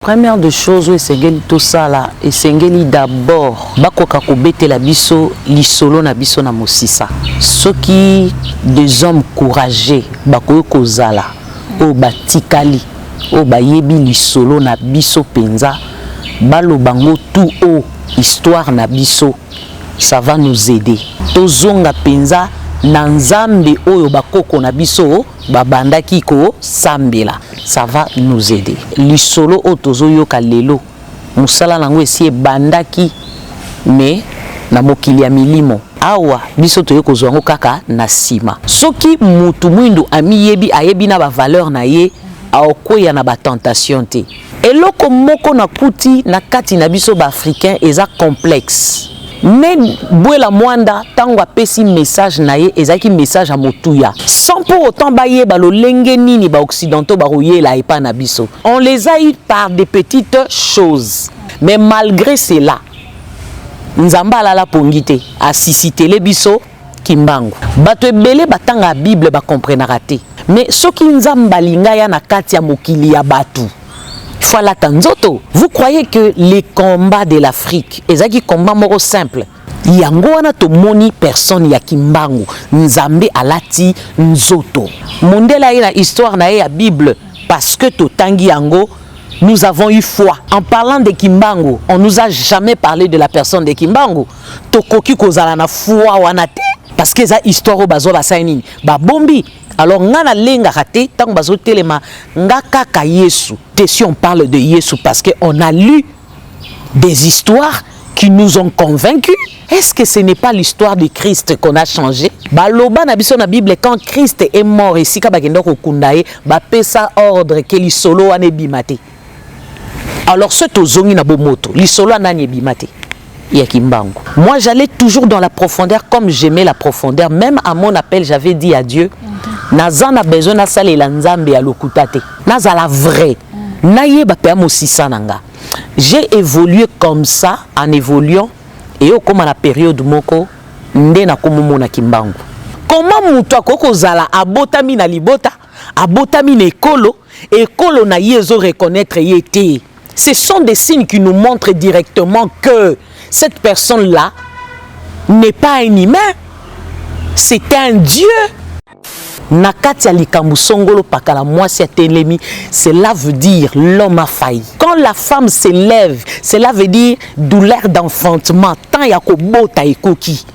Première de choses oyo esengeli tosala esengeli d'abord bakoka kobetela biso lisolo na biso na mosisa soki des hommes courageux bakoki kozala oyo batikali oyo bayebi lisolo na biso mpenza baloba ngo tout haut histoire na biso ça va nous aider tozonga mpenza na nzambe oyo bakoko na biso babandaki kosambela ça va nous aider lisolo oyo tozoyoka lelo mosala na yango esi ebandaki mais na mokili ya milimo awa biso toye kozwa yango kaka na nsima soki mutu mwindu amiyebi ayebi na bavaleur na ye aokweya na batentation te Eloko moko na kuti na kati na biso ba africains eza complexe. Me Buela Mwanda tango apesi message na ye ezalaki message ya motuya sans pour autant bayeba lolenge nini ba occidentaux bakoyela epa na biso. On les a eu par des petites choses mais malgre cela Nzambe alala pongi te asisitele biso. Kimbangu. Bato ebele batangaka Bible ba comprenaka te. Mais soki Nzambe alingi aya na kati ya mokili ya bato, il faut alata nzoto. Vous croyez que les combats de l'Afrique ezalaki combat moko simple? Yango wana tomoni personne ya Kimbangu, Nzambe alati nzoto. Mundele aye na histoire na ye ya Bible parce que totangi yango nous avons eu foi. En parlant de Kimbangu, on nous a jamais parle de la personne de Kimbangu. tokoki kozala na foi wana te parce que eza histoire oyo bazwa basali nini babombi alors nga nalengaka te ntango bazotelema nga kaka yesu te si on parle de yesu parce que on a lu des histoires qui nous ont convaincus est-ce que ce n'est pas l'histoire de christ qu'on a changé baloba na biso na bible quand christ est mort esika bakenda kokunda ye bapesa ordre ke lisolo wana ebima te alors ce tozongi na bomoto lisolo ya nani ebima te ya kimbangu moi j'allais toujours dans la profondeur comme j'aimais la profondeur même à mon appel j'avais dit à dieu naza na besoin nasalela nzambe ya lokuta te nazala vrai nayeba mpe ya mosisa na nga j'ai évolué comme ça en évoluant eye okóma na periode moko nde nakomomona kimbangu koma moto akoki kozala abotami na libota abotami na ekolo ekolo na ye ezo reconnaitre ye te ce sont des signes qui nous montrent directement que cette personne là n'est pas un humain c'est un dieu na kati ya likambo songolo pakala mwasi ya telemi cela veut dire l'homme a failli quand la femme s'élève cela veut dire douleur d'enfantement temps ya kobota ekoki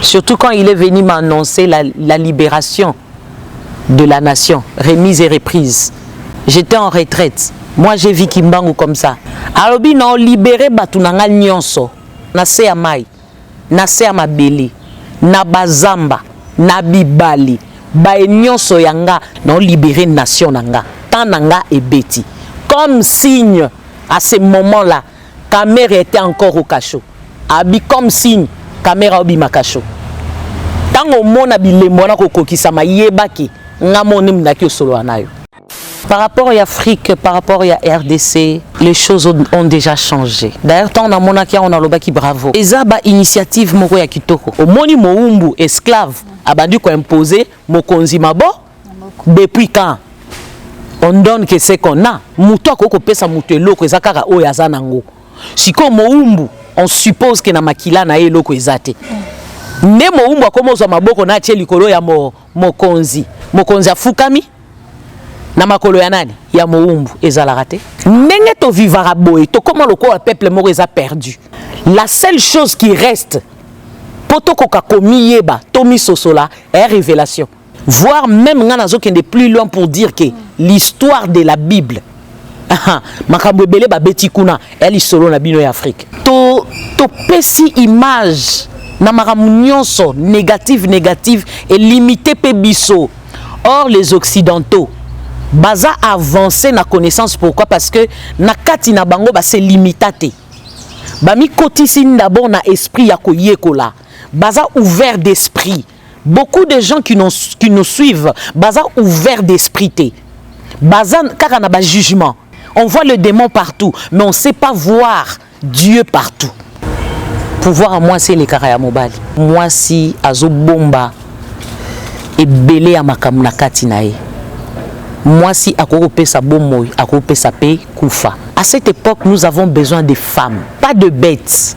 Surtout quand il est venu m'annoncer la, la libération de la nation, remise et reprise. J'étais en retraite. Moi, j'ai vu Kimbangu comme ça. Alobi, non, libéré Batunanga Nyonso, na se ya mai, na se ya mabele, na bazamba, na bibali, baye nyonso ya nga, non, libéré nation na nga, temps na nga ebeti. Comme signe, à ce moment-là, Kamere etait encore au cachot. Abi comme signe kamera obima cachot. Tango omona bilembo wana kokokisama yeba ke nga moni mdaki osolola nayo. Par rapport ya Afrique, par rapport ya rdc, les choses ont dejà change. D'ailleurs tango namonaki yango nalobaki bravo. Eza ba initiative moko ya kitoko. Omoni mowumbu, esclave, abandi ko imposer mokonzi mabo. depuis quand on donne que ce qu'on a moto akoki kopesa moto eloko eza kaka oyo aza nango sikoyo mowumbu on suppose ke na makila na ye eloko eza te nde mowumbu akoma ozwa maboko na atie likolo ya mo, mokonzi mokonzi afukami na makolo ya nani ya mowumbu ezalaka te ndenge tovivaka boye tokoma lokola peuple moko eza perdu la seule chose qui reste mpo tokoka komiyeba tomisosola e révélation voir même nga nazokende plus loin pour dire que l'histoire de la bible makambo ebele babeti kuna ya lisolo na bino ya afrique to topesi image na makambo nyonso négative négative elimite mpe biso or les occidentaux baza avancer na connaissance pourquoi parce que na kati na bango base limita te bamikotisi d'abord na esprit ya koyekola baza ouvert d'esprit Beaucoup de gens qui nous, qui nous suivent, baza ouvert d'esprit te. Baza kaka na ba jugement. On voit le démon partout, mais on sait pas voir Dieu partout. Pouvoir à moi c'est le ya mobali. Moi si azo bomba ebele ya makambo na kati na ye. Mwasi akoki kopesa bomoi, akoki kopesa pe kufa. À cette époque, nous avons besoin des femmes, pas de bêtes.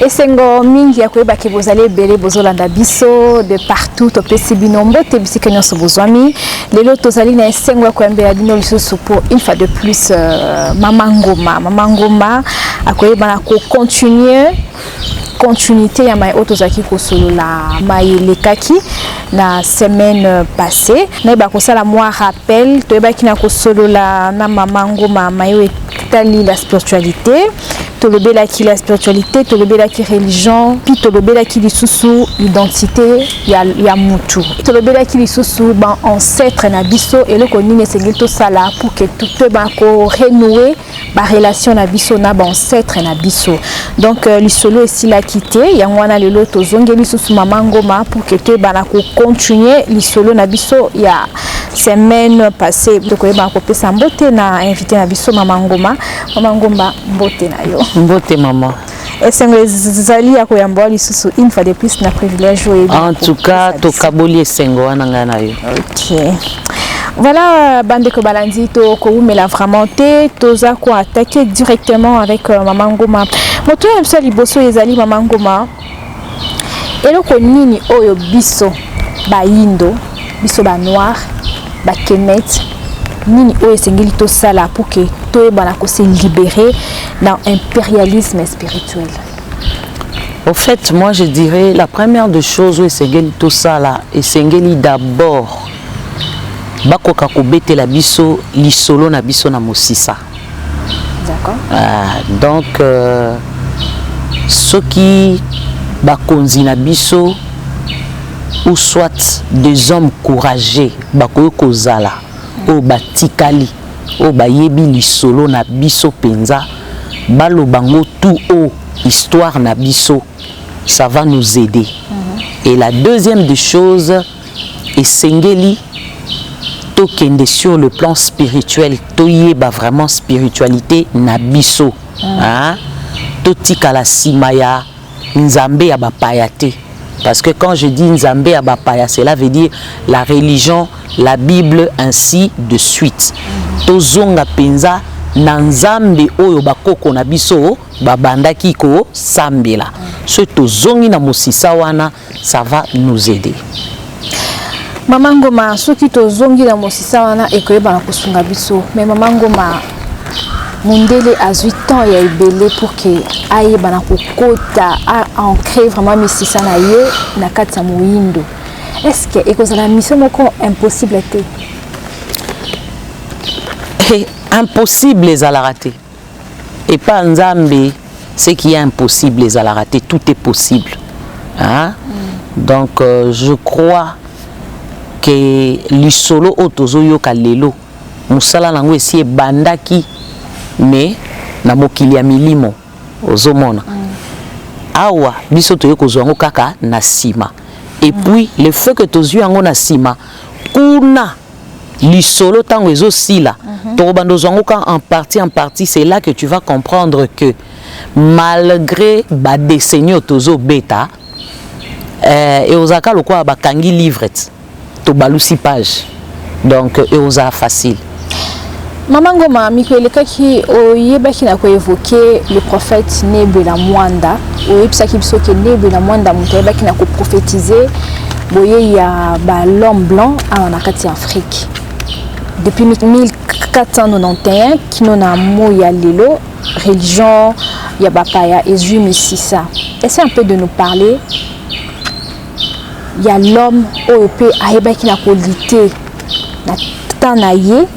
esengo mingi ya koyeba ke bozali ebele bozolanda biso de partout topesi bino mbote bisika nyonso bozwami lelo tozali na esengo ya koyambela bino lisusu pour une fois de plus euh, mama ngoma mama ngoma akoyebana kocontinue continuité ya mai oyo tozalaki kosolola mai elekaki na semaine passée nayeba kosala mwa rappel toyebaki na kosolola na mama ngoma mai oyo etali la spiritualité tolobelaki la spiritualité tolobelaki religion puis tolobelaki lisusu identité ya, ya mutu tolobelaki lisusu baancetre na biso eloko nini esengeli tosala pour ke toyeba korenoue ba relation na biso na ba ancêtre na biso donc euh, lisolo esilaki te yango wana lelo tozongeli lisusu mama ngoma pour que toyebana kocontinue lisolo na biso ya semaine passée tokoyebana kopesa mbote na invité na biso mama ngoma mama ngomba mbote na yo mbote mama esengo ezali ya koyamba lisusu une fois de plus na privilège oyo en tout cas tokaboli esengo wana ngai na yo okay. Voilà, Bandeko Balandi, to Koumela vraiment te, toza ko attaquer directement avec euh, Maman Goma. Moto ya biso liboso ezali Maman Goma. Eloko nini oyo biso bayindo, biso ba noir, ba kemet, nini oyo esengeli tosala pour que toyebana ko se libérer dans impérialisme spirituel? Au fait, moi je dirais la première de choses oyo esengeli tosala, esengeli d'abord bakoka kobetela biso lisolo na biso na mosisa. D'accord. Ah, donc euh, soki bakonzi na biso ou soit des hommes courageux bakoki kozala oyo batikali oyo bayebi lisolo na biso mpenza baloba ngo tout haut histoire na biso ça va nous aider mm -hmm. et la deuxième des choses Esengeli tokende sur le plan spirituel toyeba vraiment spiritualité na biso mm. ah, totikala nsima ya nzambe ya bapaya te parce que quand je dis nzambe ya bapaya cela veut dire la religion la bible ainsi de suite mm. tozonga mpenza na nzambe oyo bakoko na biso babandaki kosambela soki tozongi na mosisa wana ça va nous aider mama ngoma soki tozongi na mosisa wana ekoyebana kosunga biso me mama ngoma mondele azwi temps ya ebele pour ke ayebana kokota ancre vraiment misisa na ye na kati ya moyindo est ce que ekozala mission moko impossible te impossible ezalaka te Epa Nzambe, ce qui est impossible ezalaka te, tout est possible. Hein? Mm. Donc euh, je crois que lisolo oyo tozoyoka lelo mosala na yango esi ebandaki mais na mokili ya milimo ozomona mm. awa biso toye kozwa yango kaka na nsima epuis mm. le fait que tozwi yango na nsima kuna lisolo ntango ezosila mm -hmm. tokobanda ozwangoka en partie en partie c'est là que tu vas comprendre que malgré badeseni oyo tozobeta eh, eozalaka lokola bakangi livret tobalusi page donc eozala facile Mama Ngoma, miko elekaki oyebaki na koevoke le prophète Nebe na Mwanda, oyebisaki biso ke Nebe na Mwanda moto ayebaki na koprofetize boyei ya ba l'homme blanc awa na kati ya Afrique depuis 1491 kino na moi ya lelo religion ya bapaya ezwi misisa essaie un peu de nous parler ya l'homme oyo mpe ayebaki na kolite na temps na ye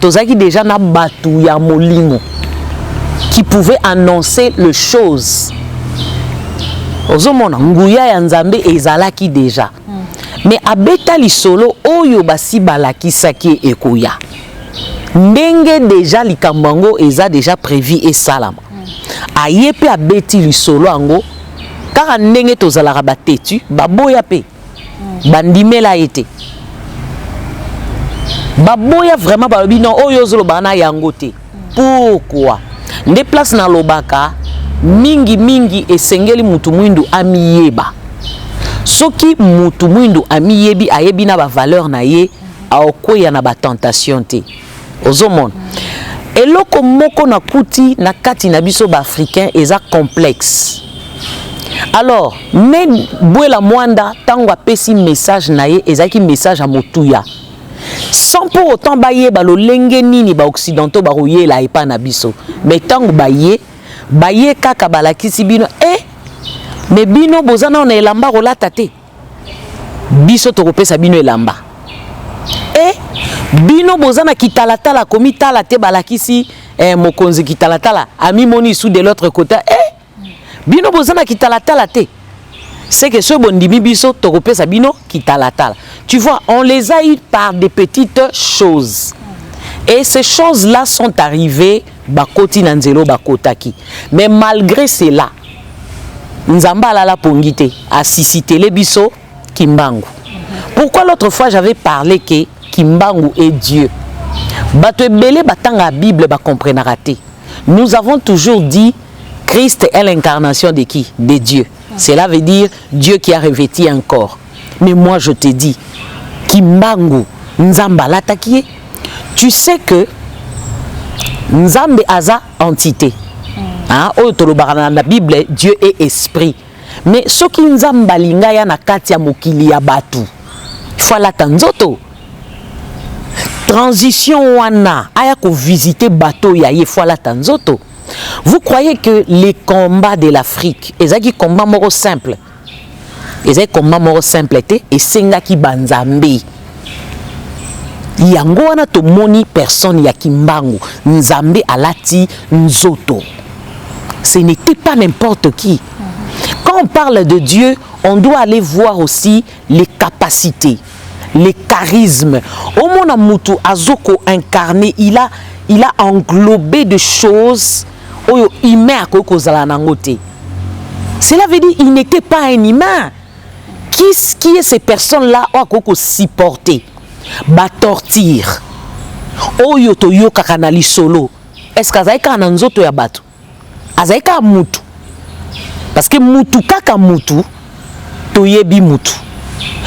tozalaki deja na bato ya molimo qui pouvait annoncer le chose ozomona nguya ya nzambe ezalaki deja hmm. mais abeta lisolo oyo basi balakisaki ekoya ndenge deja likambo yango eza deja prévu esalama hmm. aye mpe abeti lisolo yango kaka ndenge tozalaka batetu baboya mpe bandimela ye te baboya vraiment balobi non oyo ozolobaka na yango te pourkua nde place nalobaka mingi mingi esengeli mutu mwindu amiyeba soki mutu mwindu amiyebi ayebi na bavaleur na ye aokweya na batentation te ozomona eloko moko na kuti na kati na biso ba africain eza complexe alors me bwela mwanda ntango apesi message na ye ezalaki message ya motuya sans pour autant bayeba lolenge nini baoccidentaux bakoyela epai na biso me ntango baye baye kaka balakisi bino e eh, me bino boza nao na elamba kolata te biso tokopesa bino elamba e bino boza na kitalatala komitala te balakisi eh, mokonzi kitalatala amimoni isu de l'autre côté e bino boza na kitalatala te seke soki bondimi biso tokopesa bino kitalatala tu vois on les a eu par des petites choses et ces choses là sont arrivées bakoti na nzelo bakotaki mais malgré cela Nzambe alala pongi te, asisitele biso Kimbangu. Pourquoi l'autre fois j'avais parlé que Kimbangu est Dieu? Bato ebele batanga la Bible ba comprenaka te. Nous avons toujours dit Christ est l'incarnation de qui? De Dieu. Cela veut dire Dieu qui a revêti un corps. Mais moi je te dis Kimbangu Nzambe alataki ye. Tu sais que Nzambe aza entité hein, oyo tolobaka na, na bible dieu est esprit mais soki nzambe alinga ya na kati ya mokili ya bato ifo alata nzoto transition wana aya kovisite bato ya ye ifo alata nzoto vous croyez que les combats de l'afrique ezalaki combat moko simple ezali combat moko simple te esengaki banzambe yango wana tomoni personne ya kimbangu nzambe alati nzoto ce n'était pas n'importe qui quand on parle de dieu on doit aller voir aussi les capacités le charisme omona mutu azo ko incarner il a il a englobé de choses oyo humain akoki kozala nango te cela veut dire il n'était pas un humain qui, qui est ces personnes là oyo akoki kosupporter batortire oyo toyokaka na lisolo est ce que azali kaka na nzoto ya bato azali kaka mutu parce que mutu kaka mutu toyebi mutu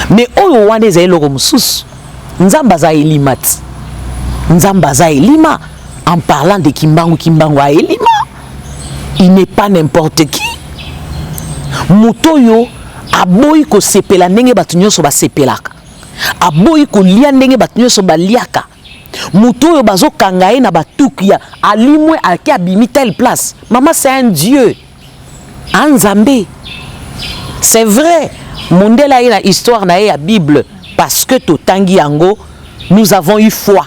mais oyo wana ezali eloko mosusu nzambe aza elima ti nzambe aza elima en parlant de kimbangu kimbangu a elima il n'est pas n'importe qui moto oyo aboyi kosepela ndenge bato nyonso basepelaka aboyi kolia ndenge bato nyonso baliaka moto oyo bazokanga ye na batuki ya alimwe ake abimi telle place mama c'est un dieu a ah, nzambe c'est vrai mondele aye na histoire na ye ya bible parce que totangi yango nous avons eu foi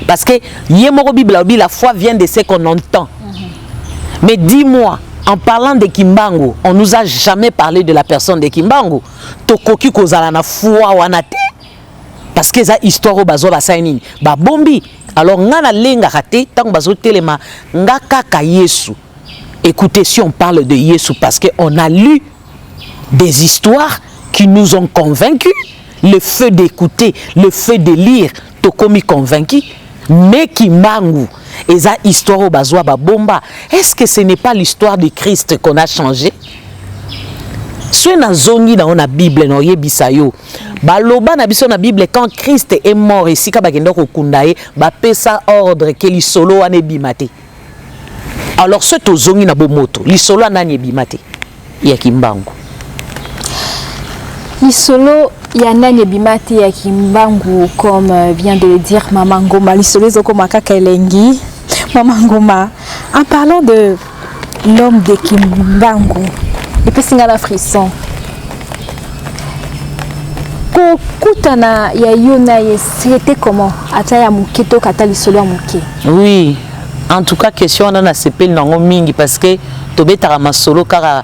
parce que ye moko bible alobi la foi vient de ce qu'on entend mais dis moi en parlant de kimbangu on nous a jamais parlé de la personne de kimbangu tokoki kozala na foi wana te parce que eza histoire oyo bazwa basali nini babombi alors nga nalengaka te ntango bazotelema nga kaka yesu écoutez si on parle de yesu parce que on a lu des histoires qui nous ont convaincus le feu d'écouter le feu de lire tokomi convaincu mais kimbangu eza histoire oyo bazwa babomba est ce que ce n'est pas l'histoire de christ qu'on a changé soki nazongi nango na bible naoyebisa yo baloba na biso na bible quand christ est mort esika bakenda kokunda ye bapesa ordre ke lisolo wana ebima te alors soki tozongi na bomoto lisolo ya nani ebima te ya kimbangu lisolo ya nani ebima te ya kimbangu comme euh, vient de le dire mama ngoma lisolo ezokoma kaka elengi mama ngoma en parlant de L'homme de Kimbangu epesi nga na frisson kokutana ya yo na ye c'était comment ata ya moke to kata lisolo ya moke oui en tout cas question wana nasepeli nango mingi parce que tobetaka masolo kaka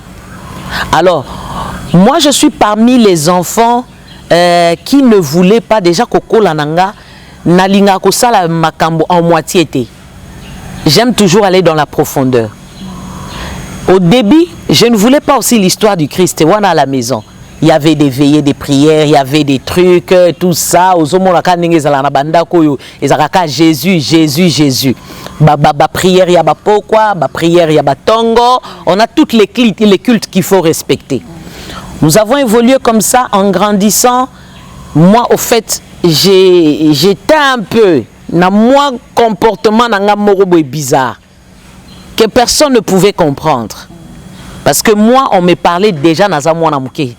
Alors, moi je suis parmi les enfants euh, qui ne voulaient pas déjà kokola na nga nalingaka kosala makambo en moitié te. J'aime toujours aller dans la profondeur. Au début, je ne voulais pas aussi l'histoire du Christ, wana à la maison. Il y avait des veillées, des prières, il y avait des trucs, tout ça. Ozomonaka ndenge ezala na bandako oyo ezalaka ka jesus jesus jesus baprière ya bapokwa baprière ya batongo on a toutes les cultes, les cultes qu'il faut respecter nous avons évolué comme ça en grandissant moi au fait j'étais un peu na mwa comportement na nga moko boye bizarre que personne ne pouvait comprendre parce que moi on me parlait déjà naza mwana moke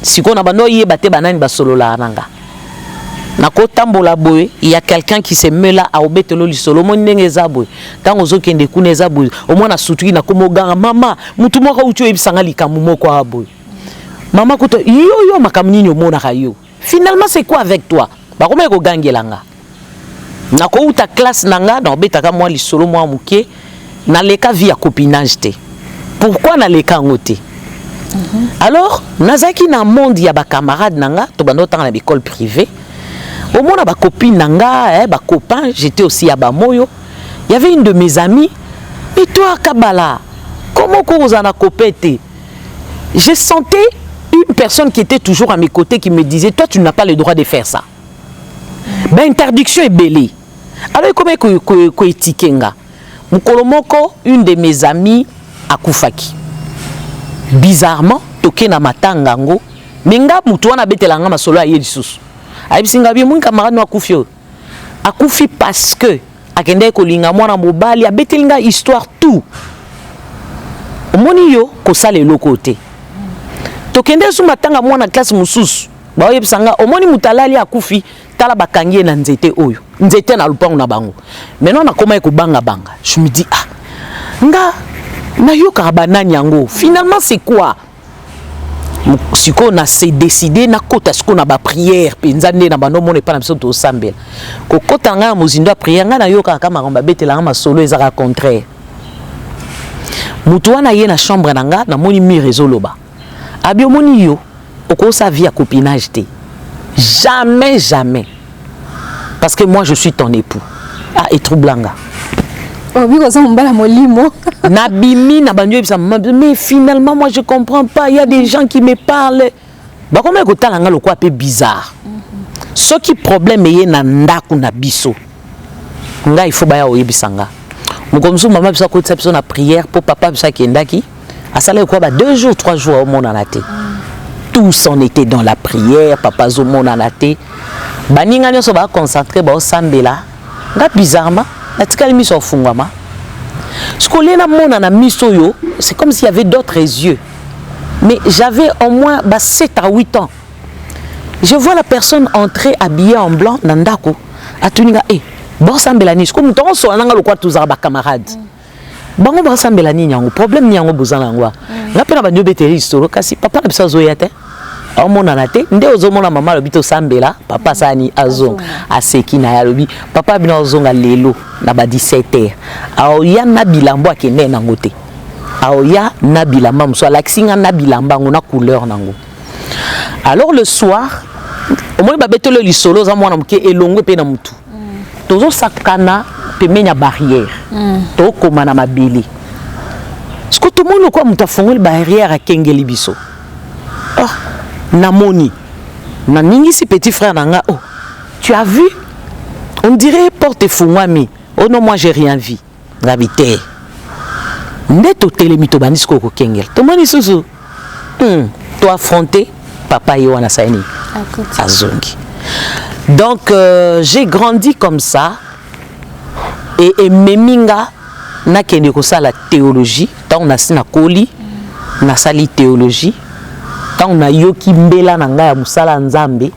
sikoyo na bando oyeba te banani basololaka na nga nakotambola boye ya quelqu'un qui se mela aobetelo lisolo omoni ndenge eza boye ntango ozokende kuna eza boye omwana sutuki nakoma oganga mama motu moko auti oyebisanga likambo moko a boye mama kuta yo yo makambo nini omonaka yo finalement c'est quoi avec toi bakomaki kogangela nga nakouta classe na nga nakobetaka mwa lisolo mwa moke naleka vie ya copinage te pourquoi naleka yango te mhm. alors nazalaki na monde ya bacamarade na nga tobanda otanga na baekole privée omona bacopine na nga eh, bacopain j'étais aussi ya bamoyo y avait une de mes amies et toi kabala comment okozala na copain te Je sentais une personne qui était toujours à mes côtés qui me disait Toi, tu n'as pas le droit de faire ça. Ba interdiction ebele. Alors, comment ko étiquer nga Mukolo moko, une de mes amies akufaki. Bizarrement, toke na matanga ngo, mais nga mutu wana abetela nga masolo aye lisusu. Ayebisi nga bi mon camarade no akufi oyo. akufi parce que akendaki kolinga mwana mobali abeteli nga histoire tout omoni yo kosala eloko te tokende su matanga mwana classe mosusu baoyebisa nga omoni moto alali akufi tala bakangi ye na nzete oyo nzete na lopango na bango maintenant nakomaki kobangabanga je me dis ah nga nayokaka banani yango finalement c'est quoi sikoyo na se décide nakota sikoyo na baprière mpenza nde na bando omona epai na biso tosambela kokota na ngai na mozindo ya prière ngai nayokaka kaka makambo babetelanga masolo ezaka contraire moto wana ye na chambre na ngai namoni mire ezoloba abi omoni yo okosa vie ya copinage te jamais jamais parce que moi je suis ton époux ah etroublanga obiki oza mobala molimo nabimi na bandi oyebisa mais finalement moi je comprends pas il y a des gens qui me parlent bakomaki kotala nga lokola mpe bizarre soki problème eye na ndako na biso ngai ifo baya oyebisa nga mokolo mosusu mama biso akotisa biso na prière mpo papa biso akendaki asalaki kwa ba deux jours trois jours aomonana te tous on était dans la prière papa azomonana te baninga nyonso baconcentre baosambela nga bizarrement natikali miso afungwama sikoyo lie namonana miso oyo c'est comme s'il y avait d'autres yeux mais j'avais au moins ba 7 à 8 ans je vois la personne entrer habillée en blanc na ndako atuni nga e eh, bosambela nini sikoyo moto akosola na nga lokola tozala bacamarade mm. bango basambela nini yango problème ni yango boza na yango mm. nga mpe na bandi obeteli lisolo kasi papa na biso azoya te aomonana te nde ozomona mama alobi tosambela papa asani azonga aseki na ye alobi papa bino azonga lelo na ba 17 heure aoya na bilambo akende nango te aoya na bilamba mosusu alakisi nga na bilamba yango na couleur nango alors le soir omoni babetelo lisolo oza mwana moke elongwe mpe na motu tozosakana pembeni ya barrière mm. tokoma na mabele siko tomoni lokola moto afongoli barrière akengeli biso oh, namoni naningisi petit frère na nga oh, tu as vu on dirait porte efungwami oh non moi j'ai rien vu Ngabi te. Nde totelemi tobandi sikoyo kokengela. Tomoni lisusu hmm, to affronter papa ye wana asali nini? Azongi. Donc euh, j'ai grandi comme ça et ememi nga nakende kosala théologie ntango nasi nakoli nasali théologie ntango nayoki mbela na ngai ya mosala ya nzambe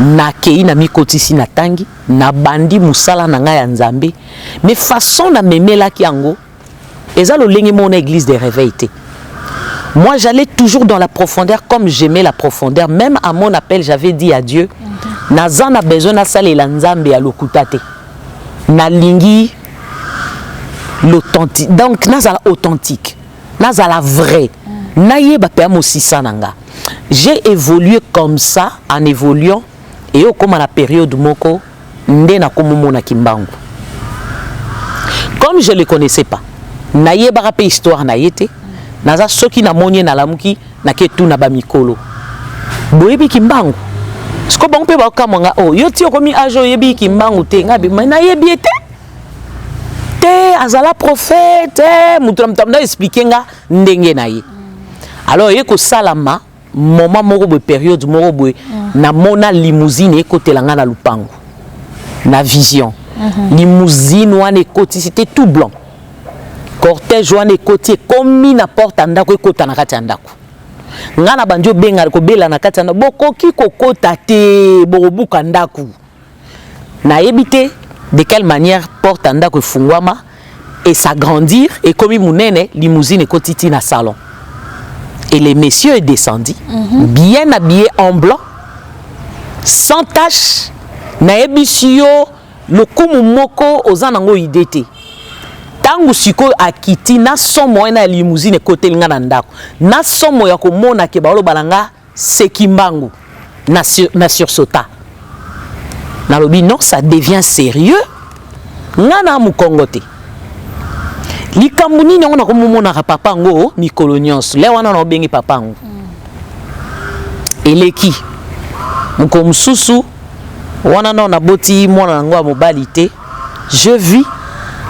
nakei na mikotisi natangi nabandi mosala na ngai ya nzambe mais façon na memelaki yango eza lolenge moko na église de réveil te moi j'allais toujours dans la profondeur comme j'aimais la profondeur même à mon appel j'avais dit à Dieu mhm. naza na besoin nasalela nzambe ya lokuta te nalingi l'authentique donc nazala authentique nazala vrai mhm. nayeba mpe ya mosisa na nga j'ai évolué comme ça en évoluant et au comme à la période moko nde nakomomona kimbangu comme je le connaissais pas nayebaka mpe histoire na ye te naza soki namoni ye nalamuki nake tuna bamikolo boyebi kimbangu siko bango mpe bakokamwa nga oyo oh, yo ti okomi age oyebi kimbangu te nga bima nayebi ye te te azala prophète moto na moto na explike nga ndenge na ye alors ye kosalama Moment moko boye, periode moko boye, mm. namona limousine ekotela nga na lupangu. Na vision. Mm -hmm. Limousine wana ekoti, c'était tout blanc. Cortège wana ekoti, ekomi na porte ya ndako, ekota na kati ya ndako. Nga na bandi obenga, kobela na kati ya ndako, bokoki kokota te, bokobuka ndako. Nayebi te de quelle manière porte ya ndako efunguama et s'agrandir et komi munene limousine et kotiti na salon. Et les messieurs est descendu mm -hmm. bien habillé en blanc sans tache nayebisi yo lokumu moko oza nango idée te ntango sikoyo akiti na somo wana ya limousine ekoteli nga na ndako na somo ya komona ke baoloba na nga C'est Kimbangu. Na, sur, na sursauta. Nalobi non, ça devient sérieux. Nga na mukongo te. Likambo nini yango nakomomonaka papa yango mikolo nyonso. Le wana na obengi papa yango. Eleki. Mokolo mosusu wana nao naboti mwana na yango ya mobali te. Je vis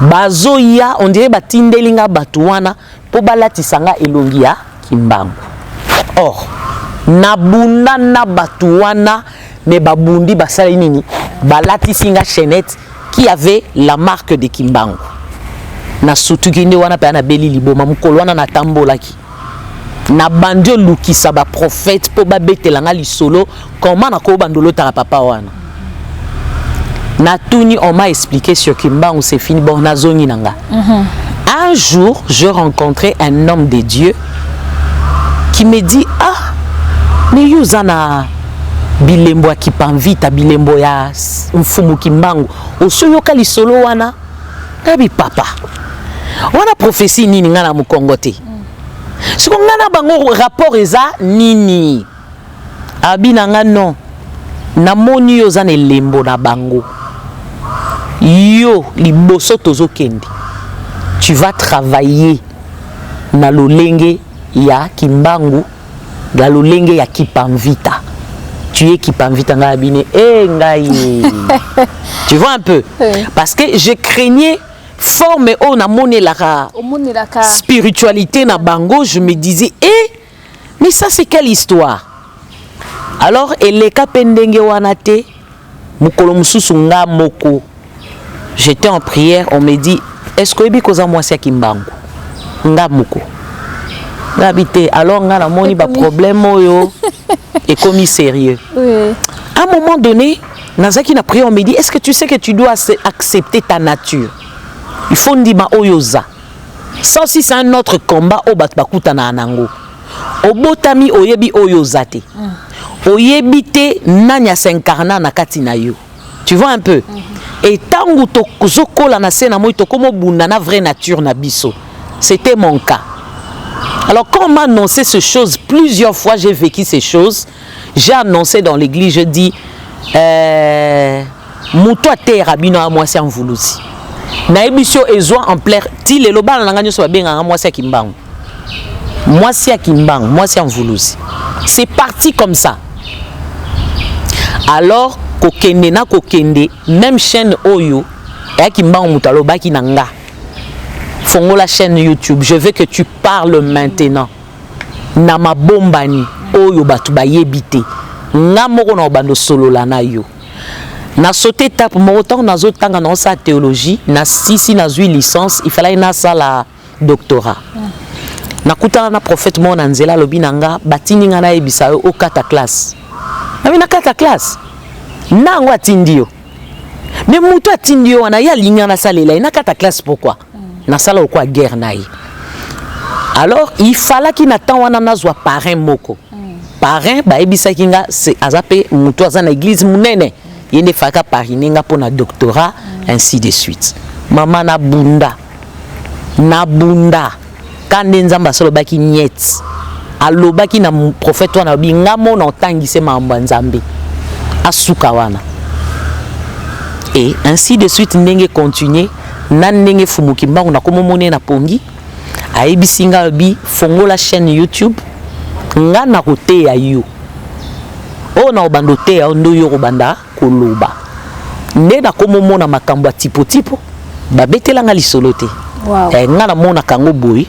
bazoya on dirait batindeli nga bato wana mpo balatisa nga elongi ya kimbangu or nabunda na bato wana me babundi basali nini balatisi nga chainette qui avait la marque de kimbangu nasutuki nde wana mpe nabeli liboma mokolo wana natambolaki nabandi olukisa baprofete mpo babetela nga lisolo Comment na ko bando lota papa wana. Na tuni on m'a expliqué sur Kimbangu c'est fini bon na zongi na nga. Mm -hmm. Un jour, je rencontrais un homme de Dieu qui me dit ah mais yuzana bilembo ya kipanvita bilembo ya mfumu kimbangu osoyoka lisolo wana nayebi papa wana profesi nini ngai na mokongo te soko ngai na bango rapport eza nini Abi na nga non na moni yo oza na elembo na bango yo liboso tozo kende tu vas travailler na lolenge ya kimbangu na lolenge ya kipamvita tu es kipamvita ngai abine e eh, ngai tu vois un peu oui. parce que je craignais forme oyo namonelaka spiritualité na bango je me disais e eh, Mais ça c'est quelle histoire Alors eleka pe ndenge wana te mukolo mususu nga moko j'étais en prière on me dit est-ce que oyebi koza mwasi ya kimbangu nga moko ngabi te alors nga namoni ba problème oyo ekomi sérieux oui. à un moment donné nazaki na prière on me dit est-ce que tu sais que tu dois accepter ta nature il faut ndima oyo oza Ça aussi c'est un autre combat au bat bakuta na anango. Obotami oyebi oyo ozate. Mm. Oyebi te nani a s'incarna na kati na yo. Tu vois un peu. Mm -hmm. Et tangu to zokola na sena moi to komo bunda na vraie nature na biso. C'était mon cas. Alors quand on m'a annoncé ces choses, plusieurs fois j'ai vécu ces choses. J'ai annoncé dans l'église, je dis, euh, moto ateyaka bino ya mwasi ya mvuluzi nayebi sio ezwa ampleur ti lelo bana na ngai nyonso babengaka mwasi ya kimbangu mwasi ya kimbangu mwasi ya mvuluzi c'est parti comme ça alors kokende na kokende même chaîne oyo ya kimbangu moto alobaki na nga fongola chaîne youtube je veux que tu parles maintenant na mabombani oyo bato bayebi te nga moko na obanda osolola na yo na saute etape moko ntango nazotanga naosala théologie na sisi nazwi licence ifalaki nasala doctorat nakutana na prophète moko na nzela alobi na nga batindi nga nayebisa yo okata classe nabi nakata classe ntango atindi yo me moto atindi yo wana ye alingi nga nasalela ye nakata classe pourkui nasala lokola guerre na ye alors il falaki na temps wana nazwa parrain moko parrain bayebisaki nga aza mpe motu aza na église monene ye nde efalaka parine nga mpo na doctorat ainsi de suite mama nabunda nabunda Ka nde Nzambe asolobaki niet. Alobaki na prophète wana obi nga mona otangi se makambo ya Nzambe. Asuka wana. Et ainsi de suite ndenge continuer na ndenge fumu kimbangu na komo mone na pongi ayebisi nga obi fongola chaîne YouTube nga na koteya yo. Oh na obando teya ndo yo kobanda koloba nde nakomomona makambo ya tipotipo babetela nga lisolo te wow. eh, nga namonaka yango boye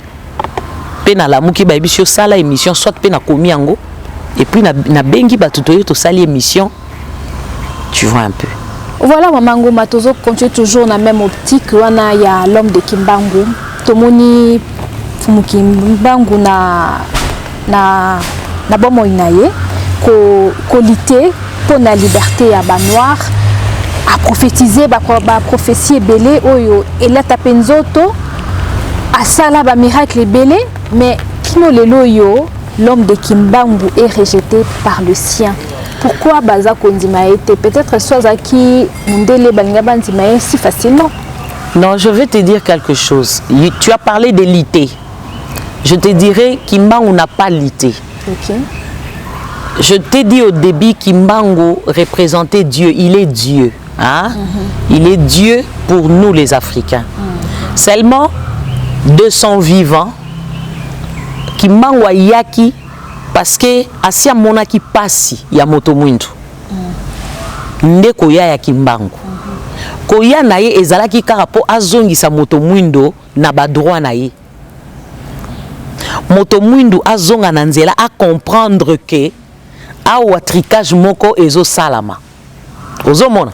mpe nalamuki bayebisi osala émission soit mpe nakomi yango epuis nabengi bato toye tosali émission tu vois un peu voilà mama ngoma tozo continue toujours na même optique wana ya l'homme de kimbangu tomoni mfumu kimbangu na na, na bomoi na ye kolite ko mpo na liberte ya banoir aprofetize baprofesi ba ebele oyo elata mpe nzoto asala bamiracle ebele mais kino lelo oyo l'homme de kimbangu est rejeté par le sien pourquoi baza kondima ye te peut-être so azalaki mondele balinga bandima ye si facilement non je vais te dire quelque chose tu as parlé de lite je te dirais kimbangu n'a pas lutté okay. je t'ai dit au début kimbangu représentait dieu il est dieu hein? mm -hmm. il est dieu pour nous les africains mm -hmm. seulement 200 vivants kimbangu ayaki parce que asi amonaki pasi ya moto mwindu nde koya ya kimbangu koya na ye ezalaki kaka mpo azongisa moto mwindo na ba droit na ye moto muindu azonga na nzela a comprendre que awa tricage moko ezosalama ozomona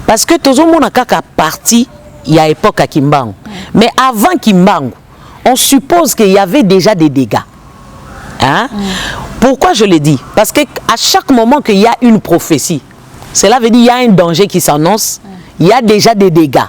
parce que tozomona kaka parti ya époque ya kimbangu mais avant kimbangu on suppose qu'il y avait déjà des dégâts hein? Mm. pourquoi je le dis parce que à chaque moment qu'il y a une prophétie cela veut dire qu'il y a un danger qui s'annonce mm. il y a déjà des dégâts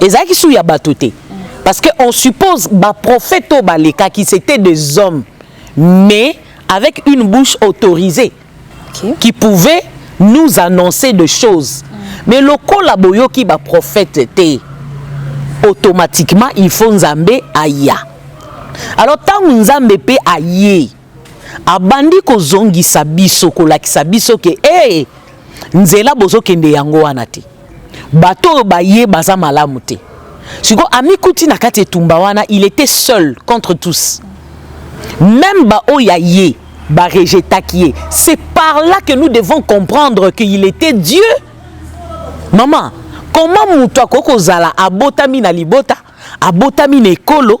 ezalaki su ya bato te parce que on suppose ba prophète oyo balekaki c'était des hommes mais avec une bouche autorisée okay. qui pouvait nous annoncer de choses mm. mais lokola boyoki ba prophète te automatiquement il faut nzambe aya alors ntango nzambe mpe aye abandi kozongisa biso kolakisa biso ke ee nzela bozokende yango wana te bato oyo baye baza malamu te sikoyo amikuti na kati etumba wana il était seul contre tous même baoyo ya ye barejetaki ye c'est par là que nous devons comprendre qu'il était dieu mama koma moto akoki kozala abotami na libota abotami na ekolo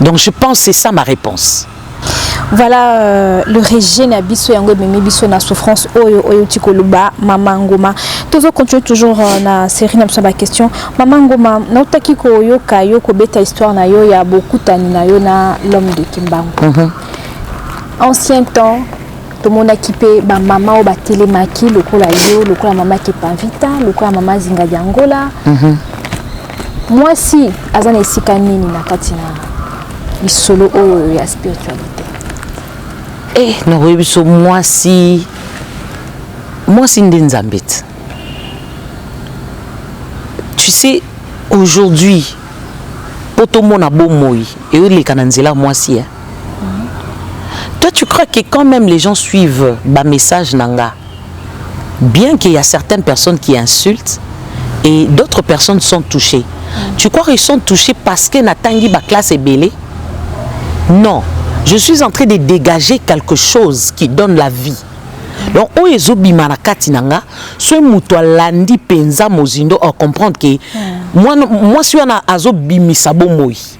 Donc je pense c'est ça ma réponse. Voilà euh, le régime à biso yango mimi biso na souffrance oyo oyo tikoluba mama ngoma. Tozo continuer toujours euh, na série na biso ba question. Mama ngoma na utaki ko yoka yo ko beta histoire na yo ya bokutani na yo na l'homme de Kimbangu. Mm -hmm. Ancien temps tomonaki mpe bamama oyo batelemaki lokola yo lokola mama kepavita lokola mama zinga di angola mm -hmm. mwasi aza na esika nini na kati na lisolo oyo ya spiritualité eh, nakoyebi biso mwasi mwasi nde nzambe ti tu sais aujourd'hui mpo tomona bomoi eoleka na nzela mwasi eh? Toi, tu crois que quand même les gens suivent bas message nanga, bien qu'il y a certaines personnes qui insultent et d'autres personnes sont touchées. Tu crois qu'ils sont touchés parce que Natangi ba classe est belée Non. Je suis en train de dégager quelque chose qui donne la vie. donc oyo ezobima na kati na nga soki moto alandi mpenza mozindo akomprendre ke hmm. mwasi wana azobimisa bomoi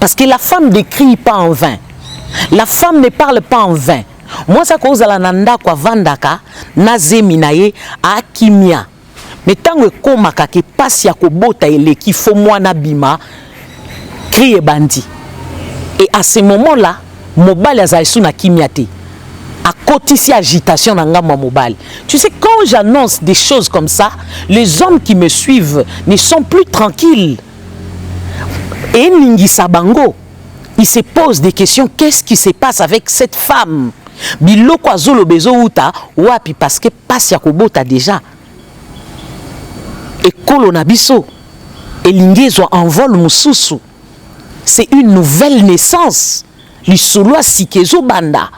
parce que la femme ne crie pas en vain la femme ne parle pas en vain mwasi akozala na ndako avandaka na zemi na ye akimia me ntango ekomaka ke mpasi ya kobota eleki fo mwana bima cri ebandi e à ce moment là mobali azali su na kimia te akotisi agitation na ngambo ya mobali tu sais quand j'annonce des choses comme ça les hommes qui me suivent ne sont plus tranquilles eningisa bango il se pose des questions qu'est-ce qui se passe avec cette femme biloko azoloba ezowuta wapi parce que pasi ya kobota déjà ekolo na biso elingi ezwa envol mosusu c'est une nouvelle naissance lisolo ya sika ezobanda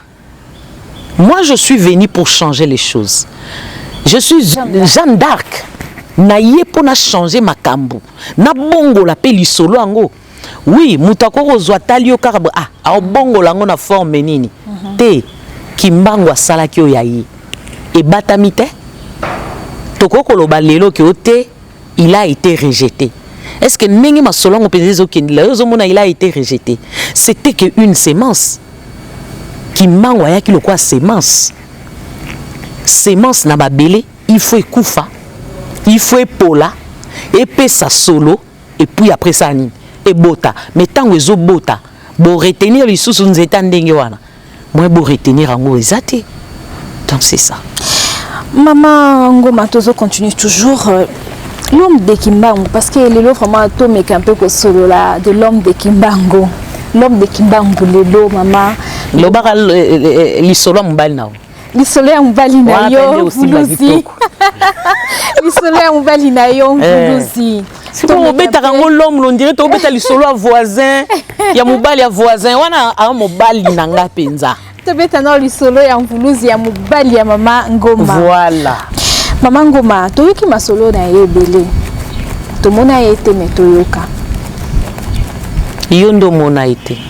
Moi je suis venu pour changer les choses. Je suis Jeanne d'Arc. naye mpo na changer makambo nabongola mpe lisolo yango oui moto akoki kozwa tali yo kaka ah, aobongola yango na forme nini mm -hmm. te kimbangu asalaki oyo ya ye ebatami te tokoki koloba lelo ke o te il a ete rejete est ce que ndenge masolo yango mpenza ezokendela yo ozomona il a ete rejete c'était que une semence kimbangu ayaki lokola semence semence na babele il faut ekufa il faut epola epesa solo epuis après ça nini ebota mais ntango ezobota boretenir lisusu nzeta ndenge wana moyen bo retenir yango eza te donc c'est ça mama ngoma tozo continue toujours euh, l'homme de kimbangu parce que lelo vraiment tomeka un peu kosolola de l'homme de kimbangu l'homme de kimbangu lelo mama lobaka euh, euh, lisolo ya mobali na yo lisolo ya mobali na yo vuluzi lisolo ya mobali na yo vuluzi eh. sikoyo obetaka yango lome londire tobeta lisolo ya voisin ya mobali ya voisin wana a mobali na nga mpenza tobeta nao lisolo ya mvuluzi ya mobali ya mama ngoma voilà mama ngoma toyoki masolo na ye ebele tomona ye te me toyoka yo nde omona ye te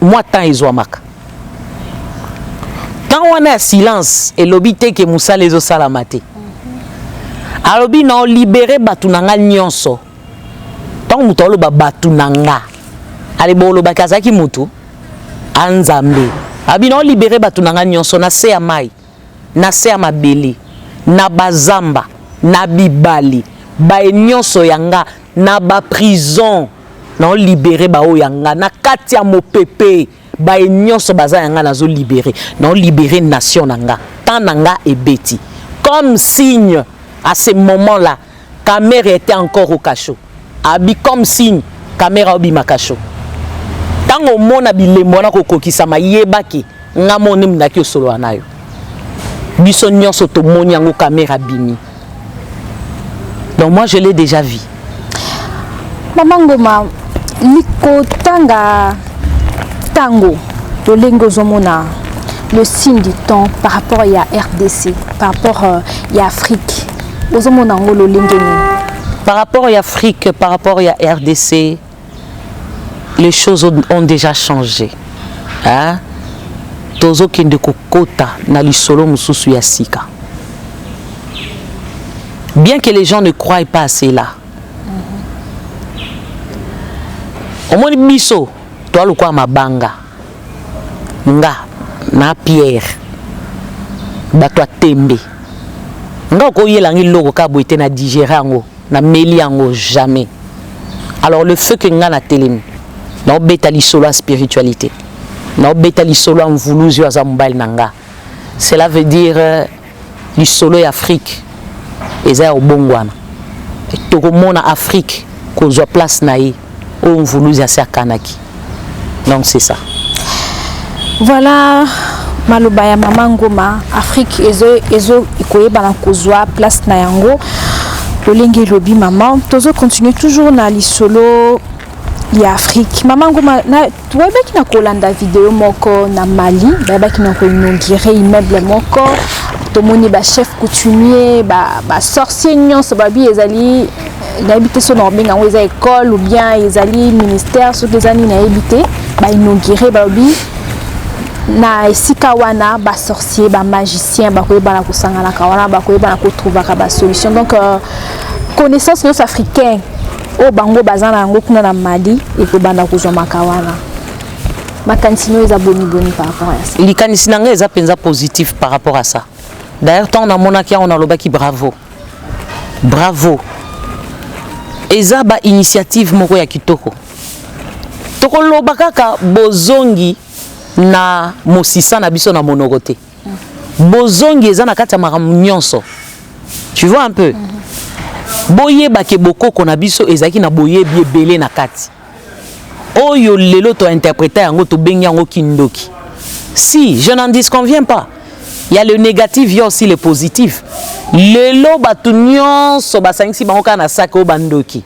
mwa temps ezwamaka temps wana ya silence elobi te ke mosala ezosalama te alobi na olibere bato na nga nyonso ntango moto aoloba bato na nga aleba olobaki azalaki motu anzambe abi na olibere bato na nga nyonso na se ya mai na se ya mabele, na bazamba, na bibale, baye nionso ya nga, na ba prison, nao libere baoyo ya nga, na kati ya mopepe, baye nionso baza ya nga nazo libere, nao libere nation na nga, temps na nga ebeti comme signe à ce moment là. Kamerhe etait encore au cachot. Abi comme signe Kamerhe aobima cachot. Tango omona bilembo wana kokokisama yeba ke nga mo nde mundaki osolola nayo. Biso nyonso tomoni yango Kamerhe abimi. Donc moi je l'ai déjà vu. Mama Ngoma, likotanga tango lolenge ozomona le signe du temps par rapport ya rdc par rapport euh, ya afrique bozomona yango lolenge nini par rapport ya afrique par rapport ya rdc les choses ont déjà changé hein? tozokende kokota na lisolo mosusu ya sika bien que les gens ne croient pas à cela omoni biso toa lokola mabanga nga na Pierre bato ya tembe nga okoyela nga eloko kaka boye te na digere yango na meli yango jamais alors le feu que nga na telemi naobeta lisolo ya spiritualité naobeta lisolo ya mvuluzi oyo aza mobali na nga cela veut dire Lisolo ya Afrique eza ya obongwana. Tokomona Afrique kozwa place na ye oyo Mvuluzi asi akanaki. Donc c'est ça. Voilà maloba ya mama Ngoma, Afrique ezo ezo koyebana kozwa place na yango. Lolenge lobi mama, tozo continuer toujours na lisolo ya afrique mama nguma toyebaki na kolanda video moko na mali bayebaki na koinaugure immeuble moko tomoni bachef coutumier basorcier ba nyonso babi ezali nayebi te so na kobenga yango eza école ou bien ezali ministère soki eza nini nayebi te bainaugure balobi na esika wana basorcier bamagicien bakoyebana kosanganaka wana bakoyebana kotrouvaka basolution donc euh, connaissance nyonso africaine oyo bango baza na yango kuna na mali ekobanda kozwa maka wana makanisi nayo eza boniboni par rapport ya ça likanisi na ngai eza mpenza positif par rapport à ça d'ailleurs ntango namonaki yango nalobaki bravo bravo eza ba initiative moko ya kitoko tokoloba kaka bozongi na mosisa na biso na monoko te bozongi eza na kati ya makambo nyonso tu vois un peu mhm. boyeba ke bokoko na biso ezalaki na boyebi ebele na kati oyo lelo tointerpreta yango tobengi yango kindoki si je n'en disconviens pas il y a le négatif il y a aussi le positif lelo bato nyonso basangisi bango kaka na saki oyo bandoki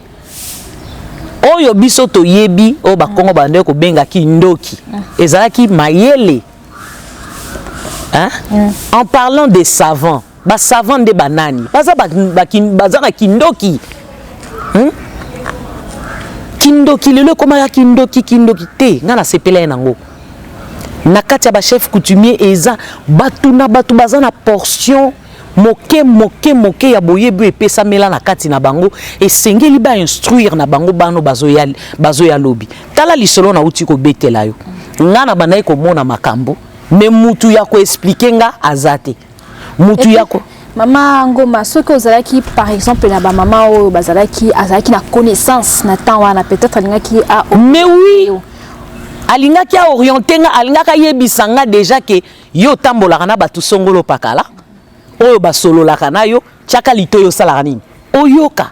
oyo biso toyebi oyo bakongo bandoi kobenga kindoki mhm. ezalaki mayele hein? Mm. en parlant des savants basavant nde banani baza, ba, ba, baza na kindoki hmm? kindoki lelo ekomaka kindoki kindoki te ngai nasepela ye nango na kati ya bachef coutumier eza bato na bato baza na portion Moke moke moke ya boyebi oyo epesamela na kati na bango esengeli ba instruire na bango bano bazoya bazoya lobi. Tala lisolo nauti kobetela yo. Nga na bandaki komona makambo me mutu ya koexplike nga aza te mutu ya ko mama ngoma soki ozalaki par exemple na bamama oyo bazalaki azalaki na connaissance na temps wana peut-être alingaki a mais oui alingaki aoriente nga alingaki ayebisa nga déjà ke Yo otambolaka na bato songolo pakala oyo basololaka na yo tiaka litoyi osalaka nini oyoka